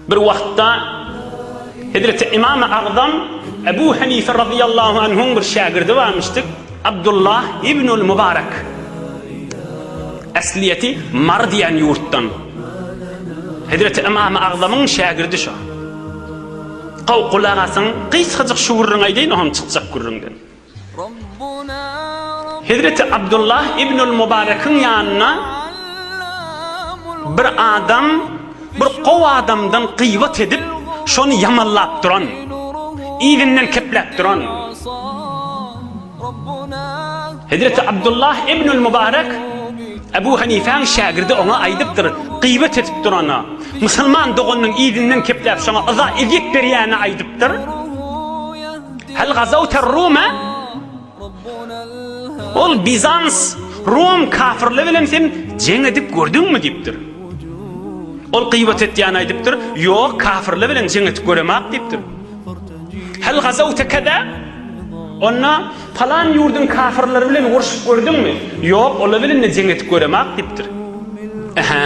Bir wagtda Hezreti Imam-y Agzam Ebu Hanife radiyallahu anhuň bir şägirdi barmyşdyk, Abdullah ibnul Mubarak. Äsliýeti Mar diýen ýurtdan. Hezreti Imam-y Agzamyň şägirdi şo. Gow gulak asyň, gysgajyk şu gürrüňi aýdaýyn, o hem çykjak gürrüňden. Hezreti Abdullah ibnül Mubarekiň ýanyna bir adam bir gowy adamdan gybat edip, şony ýamanlap duran, yzyndan kepläp duran. Hezreti Abdullah ibnül Mubarek Ebu Hanifäň şägirdi oňa aýdypdyr, gybat edip durana, musulman doganynyň yzyndan kepläp şoňa yza-ezýet berýäne aýdypdyr. Hal gazawta Ruma? Ol Bizans, Rum kafirli bilen sen jeň edip gördüňmi diýipdir. Ol gyýbat etýän aýdypdyr, ýok kafirli bilen jeň edip göremak diýipdir. Hal gazawta kada? Onda falan ýurduň kafirleri bilen urşup gördüňmi? Ýok, olar bilen de jeň edip göremak diýipdir. Aha.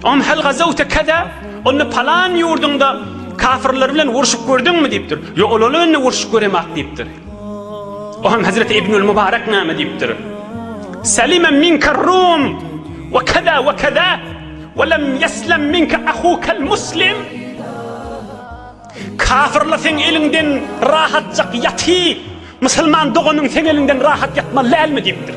Am hal gazawta kaza? Onda palan ýurduňda kafirler bilen urşup gördüňmi diýipdir. Ýok, olar bilen indi urşup göremak diýipdir. O hem Hazret Ibnül Mubarak näme diýipdir? Salima minka rum we kaza we kaza we lem yeslam minka ahukal muslim. Kafirler sen elinden rahatjak ýaty. Musulman doganyň sen elinden rahat ýatmaly dälmi diýipdir.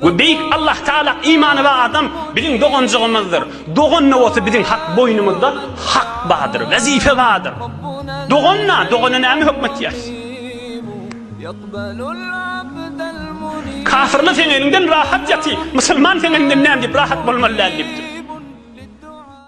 We Beýik Allah Taala imany bar adam biziň doganjygymyzdyr. Dogan-da bolsa biziň hak boýnumyzda hak bardyr, wezipe bardyr. Dogan-da, dogana näme hökm etýäris? Kafirler seň eliňden rahat ýaty, musulman seň eliňden näme diýip rahat bolmaly däl diýipdir.